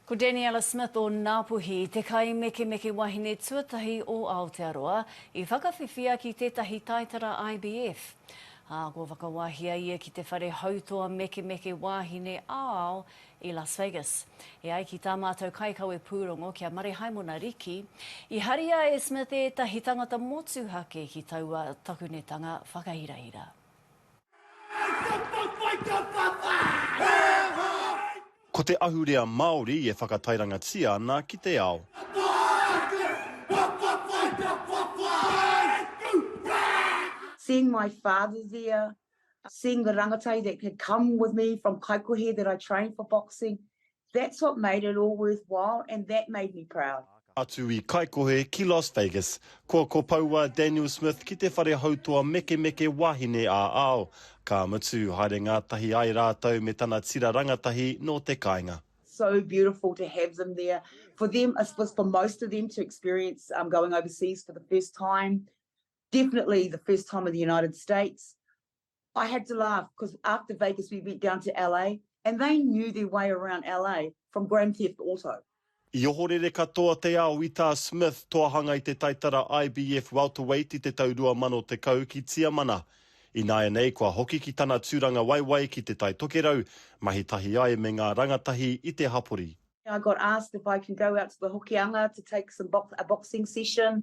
Ko Daniella Smith o Ngāpuhi te kaimekemeke wahine tuatahi o Aotearoa i whakawhiwhia ki tētahi taitara IVF. Ā, kua whakawahia ia ki te whare hautoa mekemeke wāhine ā-ao i Las Vegas. E ai ki tā mātou kaikawe pūrongo ki a Marehaimona Riki, i haria e Smith ētahi tangata motuhake ki taua takunetanga whakahirahira. Ko te ahurea Māori e whakatairangatia ana ki te ao. Seeing my father there, seeing the rangatahi that had come with me from Kaikohe that I trained for boxing, That's what made it all worthwhile and that made me proud. Atu i Kaikohe ki Las Vegas. Kua kopou a Daniel Smith ki te whare hautoa mekemeke wahine ā-ao. Ka mutu, haere ngātahi ai rātou me tana tira rangatahi nō te kāinga. so beautiful to have them there for them I suppose for most of them to experience um, going overseas for the first time definitely the first time in the United States I had to laugh because after Vegas we went down to LA and they knew their way around LA from Grand Theft Auto. I ohorere katoa te ao i tā Smith toa hanga i te taitara IBF Welterweight i te tau 2010 ki Tiamana. Ināianei kua hoki ki tana tūranga waiwai ki Te Tai Tokerau, mahi tahi ai me ngā rangatahi i te hapori. I got asked if I can go out to the Hokianga to take some box, a boxing session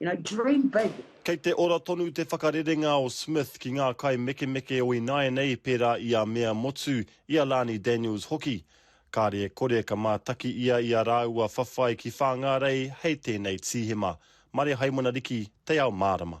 You know, dream big. Kei te ora tonu te whakarerenga o Smith ki ngā kaimekemeke o ināianei pērā i a Mea Motu, i a Lani Daniels hoki. Kāre e kore ka mātaki ia i a rāua whawhai ki Whāngārei hei tēnei tīhema. Mare Haimana Riki, Te Ao Mārama.